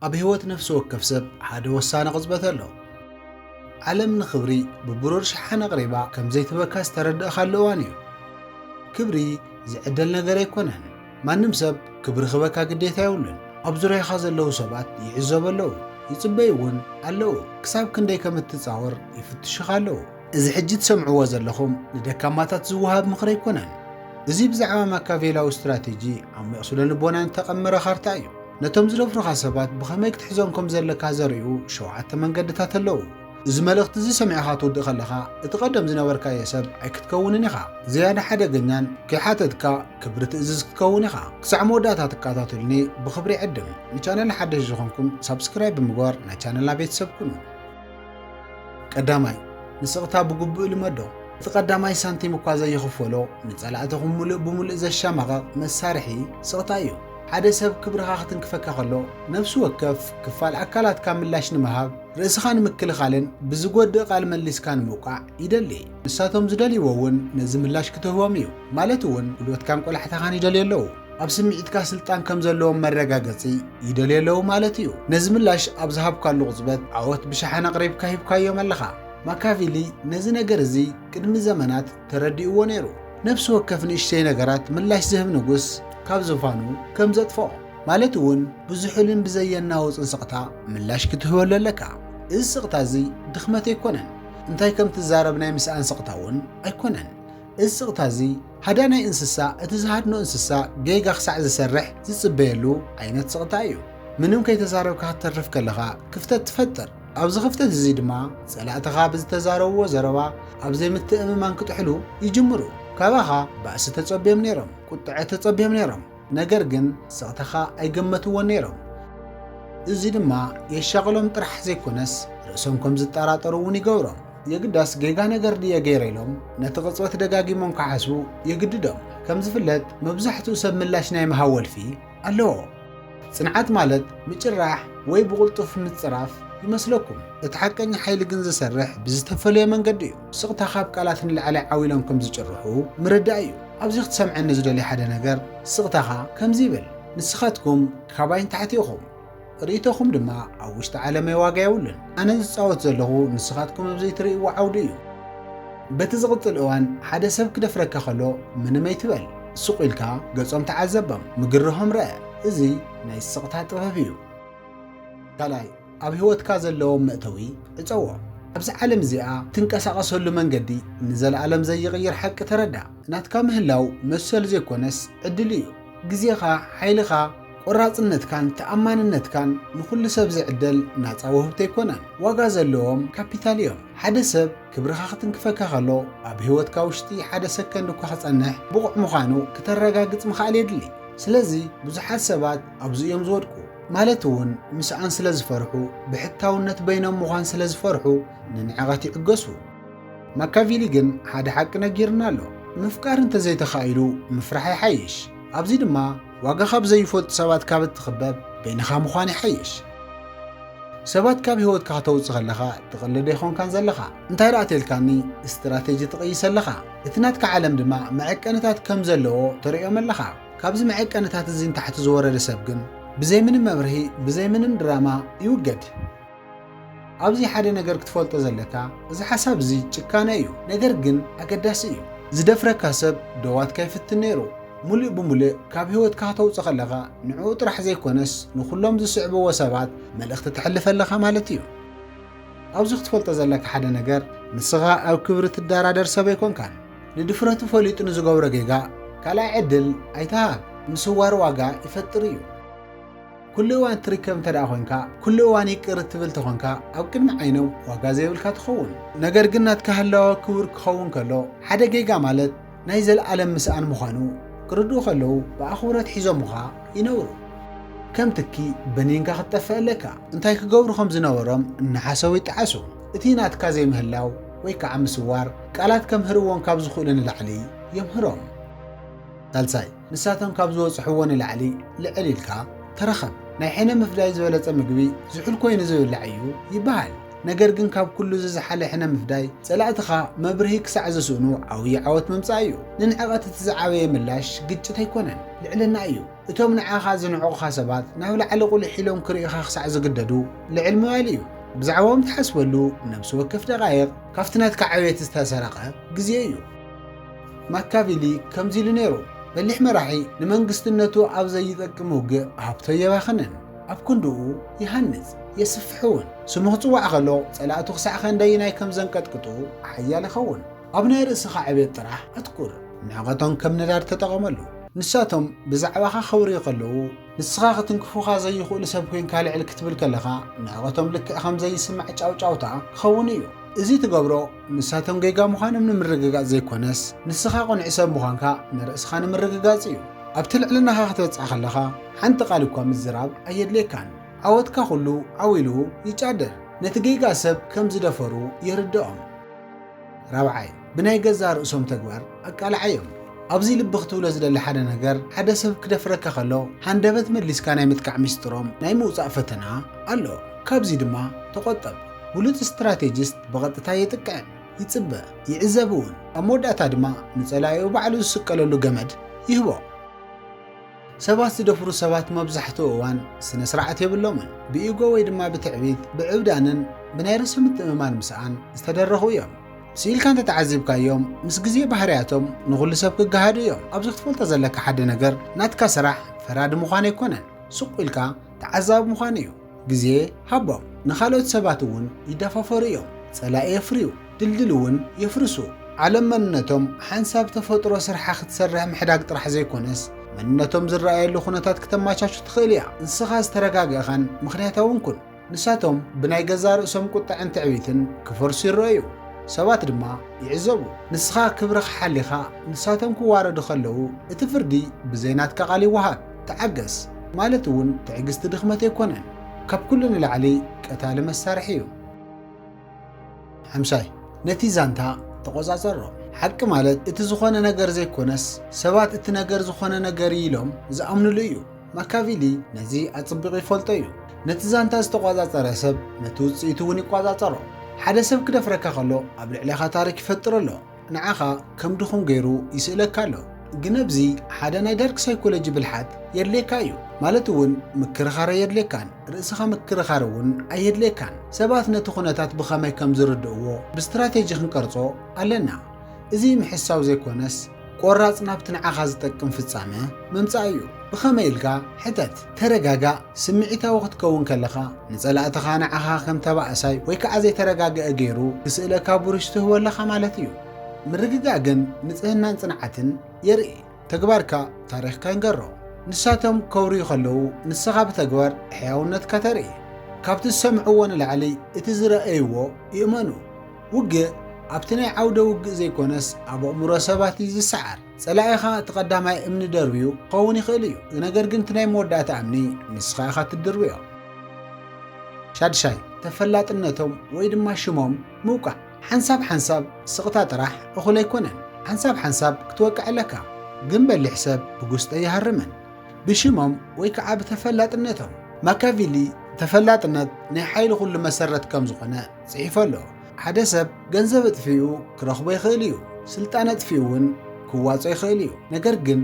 ኣብ ህይወት ነፍሲ ወከፍ ሰብ ሓደ ወሳኒ ቅጽበት ኣሎ። ዓለም ንክብሪ ብብሩር ሸሓነ ኣቕሪባ ከም ዘይትህበካ ዝተረዳእካሉ እዋን እዩ። ክብሪ ዝዕደል ነገር ኣይኮነን። ማንም ሰብ ክብሪ ክህበካ ግዴታ የብሉን። ኣብ ዙርያኻ ዘለዉ ሰባት ይዕዘቡ ኣለዉ፣ ይጽበዩ እውን ኣለዉ። ክሳብ ክንደይ ከም እትጻወር ይፍትሹኻ ኣለዉ። እዚ ሕጂ ትሰምዕዎ ዘለኹም ንደካማታት ዝወሃብ ምኽሪ ኣይኮነን። እዚ ብዛዕባ ማካቬላዊ ስትራቴጂ ዓሚቕ ስለ ልቦና እተቐመረ ካርታ እዩ። ነቶም ዝደፍሩኻ ሰባት ብኸመይ ክትሕዞም ከም ዘለካ ዘርእዩ ሸውዓተ መንገድታት ኣለዉ። እዚ መልእኽቲ እዚ ሰሚዕኻ ትውድእ ከለኻ እቲ ቀደም ዝነበርካዮ ሰብ ኣይክትከውንን ኢኻ። ዝያዳ ሓደገኛን ከይሓተትካ ክብሪ ትእዝዝ ክትከውን ኢኻ። ክሳዕ መወዳእታ ትከታተሉኒ ብኽብሪ ይዕድም። ንቻነል ሓደሽ ዝኾንኩም ሳብስክራይብ ብምግባር ናይ ቻነልና ቤተሰብ ኩኑ። ቀዳማይ፣ ንስቕታ ብግቡእ ልመዶ። እቲ ቀዳማይ ሳንቲም እኳ ዘይኽፈሎ፣ ንጸላእትኹም ምሉእ ብምሉእ ዘሻማቐቕ መሳርሒ ስቕታ እዩ። ሓደ ሰብ ክብርኻ ክትንክፈካ ከሎ፣ ነፍሲ ወከፍ ክፋል ኣካላትካ ምላሽ ንምሃብ፣ ርእስኻ ንምክልኻልን ብዝጎድእ ቃል መሊስካ ንምውቃዕ ይደሊ። ንሳቶም ዝደልይዎ እውን ነዚ ምላሽ ክትህቦም እዩ፣ ማለት እውን ጉልበትካን ቆላሕታኻን ይደልዩ ኣለዉ። ኣብ ስምዒትካ ስልጣን ከም ዘለዎም መረጋገጺ ይደልዩ ኣለዉ ማለት እዩ። ነዚ ምላሽ ኣብ ዝሃብካሉ ቅጽበት ዓወት ብሸሓን ኣቕሪብካ ሂብካዮም ኣለኻ። ማካቪሊ ነዚ ነገር እዚ ቅድሚ ዘመናት ተረዲእዎ ነይሩ። ነፍሲ ወከፍ ንእሽተይ ነገራት ምላሽ ዝህብ ንጉስ ካብ ዝፋኑ ከም ዘጥፍኦ ማለት እውን ብዝሑልን ብዘየናውጽን ስቕታ ምላሽ ክትህበሉ ኣለካ። እዚ ስቕታ እዚ ድኽመት ኣይኮነን፣ እንታይ ከም ትዛረብ ናይ ምስኣን ስቕታ እውን ኣይኮነን። እዚ ስቕታ እዚ ሃዳናይ እንስሳ እቲ ዝሃድኖ እንስሳ ጌጋ ክሳዕ ዝሰርሕ ዝጽበየሉ ዓይነት ስቕታ እዩ። ምንም ከይተዛረብካ ክትተርፍ ከለኻ ክፍተት ትፈጥር። ኣብዚ ክፍተት እዚ ድማ ጸላእትኻ ብዝተዛረብዎ ዘረባ ኣብ ዘይምትእምማን ክጥሕሉ ይጅምሩ። ካባኻ ባእሲ ተጸብዮም ነይሮም፣ ቁጥዐ ተጸብዮም ነይሮም። ነገር ግን ስቕታኻ ኣይገመትዎን ነይሮም። እዚ ድማ የሻቕሎም ጥራሕ ዘይኮነስ ርእሶም ከም ዝጠራጠሩ እውን ይገብሮም። የግዳስ ጌጋ ነገር ድየ ገይረ ኢሎም ነቲ ቅጽበት ደጋጊሞም ክሓስቡ የግድዶም። ከም ዝፍለጥ መብዛሕትኡ ሰብ ምላሽ ናይ ምሃብ ወልፊ ኣለዎ። ጽንዓት ማለት ምጭራሕ ወይ ብቕልጡፍ ምጽራፍ ይመስለኩም፣ እቲ ሓቀኛ ሓይሊ ግን ዝሰርሕ ብዝተፈለየ መንገዲ እዩ። ስቕታ ካብ ቃላት ንላዕሊ ዓው ኢሎም ከም ዝጭርሑ ምርዳእ እዩ። ኣብዚ ክትሰምዐኒ ዝደልዮ ሓደ ነገር፣ ስቕታኻ ከምዚ ይብል፣ ንስኻትኩም ካባይ ንታሕቲ ኢኹም፣ ርእይቶኹም ድማ ኣብ ውሽጢ ዓለመይ ዋጋ የብሉን። ኣነ ዝጻወት ዘለኹ ንስኻትኩም ኣብ ዘይትርእይዎ ዓውዲ እዩ። በቲ ዝቕጽል እዋን ሓደ ሰብ ክደፍረካ ከሎ ምንም ኣይትበል። ሱቕ ኢልካ ገጾም ተዓዘቦም፣ ምግርሆም ርኣ። እዚ ናይ ስቕታ ጥበብ እዩ። ካልኣይ፣ ኣብ ህይወትካ ዘለዎም መእተዊ ዕጸዎ። ኣብዚ ዓለም እዚኣ እትንቀሳቐሰሉ መንገዲ ንዘለኣለም ዘይቕይር ሓቂ ተረዳእ። ናትካ ምህላው መሰል ዘይኮነስ ዕድል እዩ። ግዜኻ፣ ሓይልኻ፣ ቆራጽነትካን ተኣማንነትካን ንኹሉ ሰብ ዝዕደል ናጻ ውህብቶ ኣይኮነን። ዋጋ ዘለዎም ካፒታል እዮም። ሓደ ሰብ ክብርኻ ክትንክፈካ ከሎ ኣብ ህይወትካ ውሽጢ ሓደ ሰከንድ እኳ ክጸንሕ ብቑዕ ምዃኑ ክተረጋግጽ ምኽኣል የድሊ። ስለዚ ብዙሓት ሰባት ኣብዚ እዮም ዝወድቁ። ማለት እውን ምስኣን ስለ ዝፈርሑ፣ ብሕታውነት በይኖም ምዃን ስለ ዝፈርሑ ንንዕቐት ይዕገሱ። ማካቪሊ ግን ሓደ ሓቂ ነጊርና ኣሎ፣ ምፍቃር እንተ ዘይተኻኢሉ ምፍራሕ ይሓይሽ። ኣብዚ ድማ ዋጋ ካብ ዘይፈልጡ ሰባት ካብ እትኽበብ በይንኻ ምዃን ይሓይሽ። ሰባት ካብ ህይወትካ ከተውጽእ ከለኻ ትቕልድ ኣይኮንካን ዘለኻ። እንታይ ደኣ ተልካኒ ስትራቴጂ ትቕይስ ኣለኻ። እቲ ናትካ ዓለም ድማ መዐቀንታት ከም ዘለዎ ተርእዮም ኣለኻ። ካብዚ መዔቀንታት እዚ ንታሕቲ ዝወረደ ሰብ ግን ብዘይ ምንም መብርሂ ብዘይ ምንም ድራማ ይውገድ። ኣብዚ ሓደ ነገር ክትፈልጦ ዘለካ እዚ ሓሳብ እዚ ጭካነ እዩ ነገር ግን ኣገዳሲ እዩ። ዝደፍረካ ሰብ ደዋትካ ይፍትን ነይሩ ሙልእ ብሙልእ ካብ ሂወትካ ከተውጽእ ከለኻ ንዕኡ ጥራሕ ዘይኮነስ ንኹሎም ዝስዕብዎ ሰባት መልእኽቲ ተሕልፍ ኣለኻ ማለት እዩ። ኣብዚ ክትፈልጦ ዘለካ ሓደ ነገር ንስኻ ኣብ ክብሪ ትዳራደር ሰብ ኣይኮንካን። ንድፍረቱ ፈሊጡ ንዝገብሮ ጌጋ ካልኣይ ዕድል ኣይትሃብ፣ ምስዋር ዋጋ ይፈጥር እዩ። ኩሉ እዋን እትርከብ እንተደኣ ኮንካ፣ ኩሉ እዋን ይቅር እትብል ተኾንካ ኣብ ቅድሚ ዓይኖም ዋጋ ዘይብልካ ትኸውን። ነገር ግን ናትካ ህላወ ክቡር ክኸውን ከሎ ሓደ ጌጋ ማለት ናይ ዘልኣለም ምስኣን ምዃኑ ክርድኡ ከለዉ ብኣኽብሮት ሒዞሙኻ ይነብሩ። ከም ትኪ በኒንካ ክትጠፍእ ኣለካ። እንታይ ክገብሩ ከም ዝነበሮም እናሓሰቡ ይጠዓሱ። እቲ ናትካ ዘይምህላው ወይ ከዓ ምስዋር ቃላት ከምህርዎም ካብ ዝኽእሉ ንላዕሊ የምህሮም። ሳልሳይ፣ ንሳቶም ካብ ዝበፅሕዎ ንላዕሊ ልዕል ኢልካ ተረኸብ። ናይ ሕነ ምፍዳይ ዝበለፀ ምግቢ ዝሑል ኮይኑ ዝብላዕ እዩ ይበሃል። ነገር ግን ካብ ኩሉ እዚ ዝሓለ ሕነ ምፍዳይ ፀላእትኻ መብርሂ ክሳዕ ዝስእኑ ዓውዪ ዓወት ምምፃእ እዩ። ንንዕቐት እቲ ዝዓበየ ምላሽ ግጭት ኣይኮነን፣ ልዕልና እዩ። እቶም ንዓኻ ዝንዕቑኻ ሰባት ናብ ላዕሊ ቁሊሕ ኢሎም ክርእዩኻ ክሳዕ ዝግደዱ ልዕል ምባል እዩ። ብዛዕባኦም ትሓስበሉ ነብሲ ወከፍ ደቓይቕ ካብቲ ናትካ ዕብየት ዝተሰረቐ ግዜ እዩ። ማካቪሊ ከምዚ ኢሉ ነይሩ፣ በሊሕ መራሒ ንመንግስትነቱ ኣብ ዘይጠቅም ውግእ ሃብቶ ኣየባኽንን። ኣብ ክንድኡ ይሃንጽ፣ የስፍሕ'ውን። ስሙ ክጽዋዕ ከሎ ጸላእቱ ክሳዕ ከንደይናይ ከም ዘንቀጥቅጡ ሓያል ይኸውን። ኣብ ናይ ርእስኻ ዕቤት ጥራሕ ኣትኩር። ንዕቀቶም ከም ነዳዲ ተጠቐመሉ። ንሳቶም ብዛዕባኻ ከውርዩ ከለዉ፣ ንስኻ ክትንክፉኻ ዘይኽእሉ ሰብ ኰይንካ ልዕል ክትብል ከለኻ፣ ንዕቀቶም ልክዕ ከም ዘይስማዕ ጫውጫውታ ክኸውን እዩ። እዚ ትገብሮ፣ ንሳቶም ጌጋ ምዃኖም ንምርግጋጽ ዘይኰነስ፣ ንስኻ ቅኑዕ ሰብ ምዃንካ ንርእስኻ ንምርግጋጽ እዩ። ኣብቲ ልዕልናኻ ክትበጽሕ ከለኻ፣ ሓንቲ ቓል እኳ ምዝራብ ኣየድልየካን። ዓወትካ ዅሉ ዓው ኢሉ ይጫደር። ነቲ ጌጋ ሰብ ከም ዝደፈሩ የርድኦም። ራብዓይ፣ ብናይ ገዛእ ርእሶም ተግባር ኣቃልዓዮም። ኣብዚ ልቢ ክትብሎ ዝደሊ ሓደ ነገር፣ ሓደ ሰብ ክደፍረካ ከሎ ሃንደበት መሊስካ ናይ ምጥቃዕ ሚስጥሮም ናይ ምውጻእ ፈተና ኣሎ። ካብዚ ድማ ተቖጠብ። ብሉጽ ስትራቴጂስት ብቐጥታ የጥቅዕን ይጽበ፣ ይዕዘብ እውን። ኣብ መወዳእታ ድማ ንጸላኢኡ ባዕሉ ዝስቀለሉ ገመድ ይህቦ። ሰባት ዝደፍሩ ሰባት መብዛሕትኡ እዋን ስነ ስርዓት የብሎምን። ብኢጎ ወይ ድማ ብትዕቢት፣ ብዕብዳንን ብናይ ርእሲ ምትእምማን ምስኣን ዝተደረኹ እዮም። ስኢልካ እንተተዓዚብካዮም ምስ ግዜ ባህርያቶም ንኹሉ ሰብ ክገሃዱ እዮም። ኣብዚ ክትፈልጦ ዘለካ ሓደ ነገር ናትካ ስራሕ ፈራዲ ምዃን ኣይኮነን ሱቕ ኢልካ ተዓዛቢ ምዃን እዩ። ግዜ ሃቦም ንኻልኦት ሰባት እውን ይደፋፈሩ እዮም ጸላኢ የፍርዩ ድልድል እውን የፍርሱ። ዓለም መንነቶም ሓንሳብ ተፈጥሮ ስርሓ ክትሰርሕ ምሕዳግ ጥራሕ ዘይኮነስ መንነቶም ዝረኣየሉ ኩነታት ክተማቻቹ ትኽእል እያ። ንስኻ ዝተረጋገእኻን ምኽንያታውን ኩን። ንሳቶም ብናይ ገዛእ ርእሶም ቁጠዐን ትዕቢትን ክፈርሱ ይረኣዩ። ሰባት ድማ ይዕዘቡ። ንስኻ ክብርኻ ሓሊኻ ንሳቶም ክዋረዱ ከለዉ እቲ ፍርዲ ብዘይ ናትካ ቃል ይወሃብ። ተዓገስ ማለት እውን ትዕግስቲ ድኽመት ኣይኮነን ካብ ኩሉ ንላዕሊ ቀታሊ መሳርሒ እዩ። ሓምሻይ ነቲ ዛንታ ተቖጻጸሮ። ሓቂ ማለት እቲ ዝኾነ ነገር ዘይኮነስ ሰባት እቲ ነገር ዝኾነ ነገር እዩ ኢሎም ዝኣምንሉ እዩ። ማካቪሊ ነዚ ኣጽቢቑ ይፈልጦ እዩ። ነቲ ዛንታ ዝተቖጻጸረ ሰብ ነቲ ውጽኢቱ እውን ይቆጻጸሮ። ሓደ ሰብ ክደፍረካ ከሎ ኣብ ልዕሌኻ ታሪክ ይፈጥር ኣሎ። ንዓኻ ከም ድኹም ገይሩ ይስእለካ ኣሎ ግን ኣብዚ ሓደ ናይ ዳርክ ሳይኮሎጂ ብልሓት የድልየካ እዩ ማለት እውን ምክርኻር ኣየድልየካን ርእስኻ ምክርኻር እውን ኣየድልየካን ሰባት ነቲ ኩነታት ብኸመይ ከም ዝርድእዎ ብስትራቴጂ ክንቀርጾ ኣለና እዚ ምሕሳው ዘይኮነስ ቆራጽ ናብቲ ንዓኻ ዝጠቅም ፍጻመ ምምጻእ እዩ ብኸመይ ኢልካ ሕተት ተረጋጋእ፣ ስምዒታዊ ክትከውን ከለኻ፣ ንጸላእትኻ ንዓኻ ከም ተባእሳይ ወይ ከኣ ዘይተረጋግኤ ገይሩ ክስእለካ ቡሩሽ ትህቦ ኣለኻ ማለት እዩ። ምርግጋእ ግን ንጽህናን ጽንዓትን የርኢ። ተግባርካ ታሪኽካ ይንገሮ። ንሳቶም ከውርዩ ከለዉ ንስኻ ብተግባር ሕያውነትካ ተርኢ። ካብቲ ዝሰምዕዎ ንላዕሊ እቲ ዝረኣይዎ ይእመኑ። ውግእ ኣብቲ ናይ ዓውደ ውግእ ዘይኮነስ ኣብ ኣእምሮ ሰባት እዩ ዝሰዓር። ጸላኢኻ እቲ ቀዳማይ እምኒ ደርብዩ ክኸውን ይኽእል እዩ፣ ነገር ግን እቲ ናይ መወዳእታ እምኒ ንስኻ ኢኻ እትድርብዮ። ሻድሻይ፣ ተፈላጥነቶም ወይ ድማ ሽሞም ምውቃዕ። ሓንሳብ ሓንሳብ ስቕታ ጥራሕ እኹል ኣይኮነን። ሓንሳብ ሓንሳብ ክትወቅዕ ኣለካ። ግን በሊሕ ሰብ ብጉስጢ ኣይሃርምን። ብሽሞም ወይ ከዓ ብተፈላጥነቶም። ማካቪሊ ተፈላጥነት ናይ ሓይሊ ኩሉ መሰረት ከም ዝኾነ ጽሒፉ ኣሎ። ሓደ ሰብ ገንዘብ ኣጥፊኡ ክረኽቦ ይኽእል እዩ፣ ስልጣን ኣጥፊኡ እውን ክዋጾ ይኽእል እዩ። ነገር ግን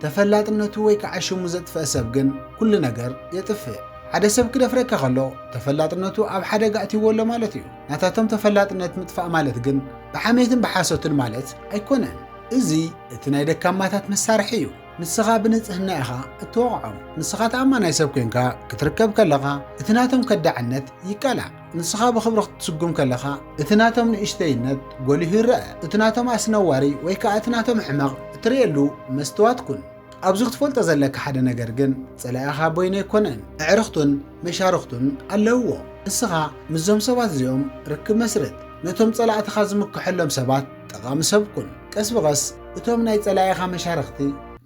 ተፈላጥነቱ ወይ ከዓ ሽሙ ዘጥፈኣ ሰብ ግን ኩሉ ነገር የጥፍእ። ሓደ ሰብ ክደፍረካ ከሎ ተፈላጥነቱ ኣብ ሓደጋ ኣእቲዎ ኣሎ ማለት እዩ። ናታቶም ተፈላጥነት ምጥፋእ ማለት ግን ብሓሜትን ብሓሶትን ማለት ኣይኮነን። እዚ እቲ ናይ ደካማታት መሳርሒ እዩ። ንስኻ ብንጽህና ኢኻ እትወቕዖም። ንስኻ ተኣማናይ ሰብ ኮይንካ ክትርከብ ከለኻ እቲ ናቶም ከዳዕነት ይቃላዕ። ንስኻ ብኽብሪ ክትስጉም ከለኻ እቲ ናቶም ንእሽተይነት ጎሊሁ ይረኣ፣ እቲ ናቶም ኣስነዋሪ ወይ ከኣ እቲ ናቶም ሕመቕ እትርእየሉ መስትዋት ኩን። ኣብዚ ክትፈልጦ ዘለካ ሓደ ነገር ግን ጸላኢኻ በይኑ ኣይኮነን፣ ኣዕርኽቱን መሻርኽቱን ኣለውዎ። ንስኻ ምስዞም ሰባት እዚኦም ርክብ መስርት፣ ነቶም ጸላእትኻ ዝምክሐሎም ሰባት ጠቓሚ ሰብ ኩን። ቀስ ብቐስ እቶም ናይ ጸላኢኻ መሻርኽቲ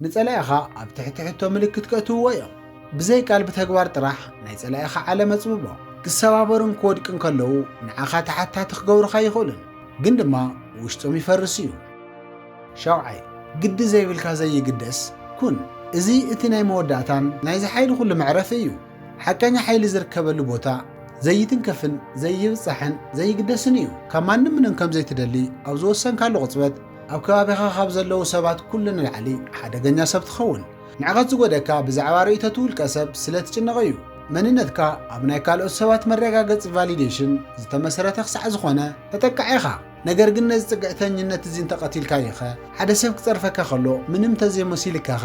ንጸላኢኻ ኣብ ትሕቲ ሕቶ ምልክት ከእትውዎ እዮም። ብዘይ ቃል ብተግባር ጥራሕ ናይ ጸላኢኻ ዓለም ኣጽብቦ። ክሰባበሩን ክወድቅን ከለዉ ንዓኻ ተሓታቲ ክገብሩኻ ኣይኽእሉን፣ ግን ድማ ውሽጦም ይፈርስ እዩ። ሻውዓይ፣ ግዲ ዘይብልካ ዘይግደስ ኩን። እዚ እቲ ናይ መወዳእታን ናይዚ ሓይሊ ኩሉ መዕረፊ እዩ። ሓቀኛ ሓይሊ ዝርከበሉ ቦታ ዘይትንከፍን ዘይብጻሕን ዘይግደስን እዩ። ካብ ማንም ምንም ከም ዘይትደሊ ኣብ ዝወሰንካሉ ቅጽበት ኣብ ከባቢኻ ካብ ዘለዉ ሰባት ኩሉ ንላዕሊ ሓደገኛ ሰብ ትኸውን። ንዕቀት ዝጎደካ ብዛዕባ ርእይቶት ውልቀሰብ ስለ ትጭነቕ እዩ። መንነትካ ኣብ ናይ ካልኦት ሰባት መረጋገጺ፣ validation፣ ዝተመሰረተ ክሳዕ ዝኾነ ተጠቃዒ ኢኻ። ነገር ግን ነዚ ጽግዕተኝነት እዚ እንተ ቀቲልካዮኸ? ሓደ ሰብ ክጸርፈካ ከሎ ምንም እንተ ዘይሞሲልካኸ?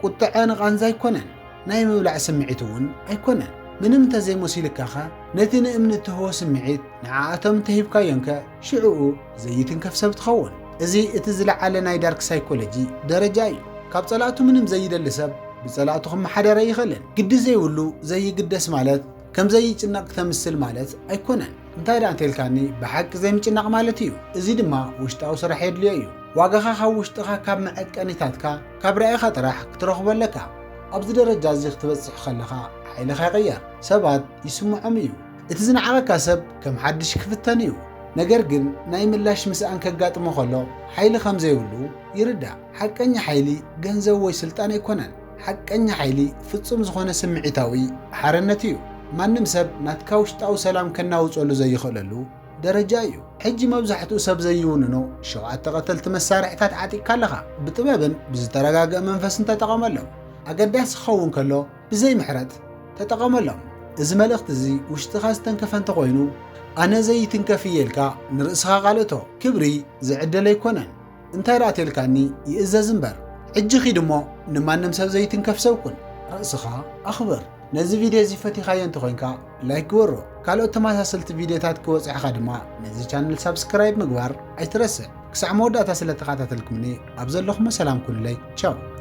ቁጥዐ ንቓንዛ ኣይኮነን። ናይ ምብላዕ ስምዒት እውን ኣይኮነን። ምንም እንተ ዘይሞሲልካኸ? ነቲ ንእምኒ እትህቦ ስምዒት ንዓኣቶም እንተ ሂብካዮምከ? ሽዕኡ ዘይትንከፍ ሰብ ትኸውን። እዚ እቲ ዝለዓለ ናይ ዳርክ ሳይኮሎጂ ደረጃ እዩ። ካብ ጸላእቱ ምንም ዘይደሊ ሰብ ብጸላእቱ ክመሓደር ኣይኽእልን። ግዲ ዘይብሉ ዘይግደስ ማለት ከም ዘይጭነቕ ክተምስል ማለት ኣይኮነን። እንታይ ደኣ እንተልካኒ ብሓቂ ዘይምጭናቕ ማለት እዩ። እዚ ድማ ውሽጣዊ ስራሕ የድልዮ እዩ። ዋጋኻ ካብ ውሽጥኻ ካብ መዐቀኒታትካ ካብ ራኢኻ ጥራሕ ክትረኽቦ ኣለካ። ኣብዚ ደረጃ እዚ ክትበጽሕ ከለኻ ሓይልኻ ይቕየር። ሰባት ይስምዖም እዩ። እቲ ዝነዓቐካ ሰብ ከም ሓድሽ ክፍተን እዩ፣ ነገር ግን ናይ ምላሽ ምስኣን ከጋጥሞ ከሎ ሓይሊ ከም ዘይብሉ ይርዳእ። ሓቀኛ ሓይሊ ገንዘብ ወይ ስልጣን ኣይኮነን። ሓቀኛ ሓይሊ ፍጹም ዝኾነ ስምዒታዊ ሓርነት እዩ። ማንም ሰብ ናትካ ውሽጣዊ ሰላም ከናውጸሉ ዘይኽእለሉ ደረጃ እዩ። ሕጂ መብዛሕትኡ ሰብ ዘይውንኖ ሸውዓተ ቀተልቲ መሳርሒታት ዓጢቕካ ኣለኻ። ብጥበብን ብዝተረጋግኣ መንፈስን ተጠቐመሎም። ኣገዳሲ ክኸውን ከሎ፣ ብዘይ ምሕረት ተጠቐመሎም። እዚ መልእኽቲ እዚ ውሽጥኻ ዝተንከፈ እንተኾይኑ፣ ኣነ ዘይትንከፍ እየ ኢልካ ንርእስኻ ቃለቶ። ክብሪ ዝዕደል ኣይኮነን፣ እንታይ ደኣ ተልካኒ ይእዘዝ እምበር። ሕጂ ኪድ እሞ ንማንም ሰብ ዘይትንከፍ ሰብ ኩን። ርእስኻ ኣኽብር። ነዚ ቪድዮ እዚ ፈቲኻዮ እንተኾይንካ ላይክ ግበሮ። ካልኦት ተመሳሰልቲ ቪድዮታት ክበጽሑኻ ድማ ነዚ ቻነል ሳብስክራይብ ምግባር ኣይትረስዕ። ክሳዕ መወዳእታ ስለተኸታተልኩምኒ ኣብ ዘለኹሞ ሰላም ኩኑለይ። ቻው።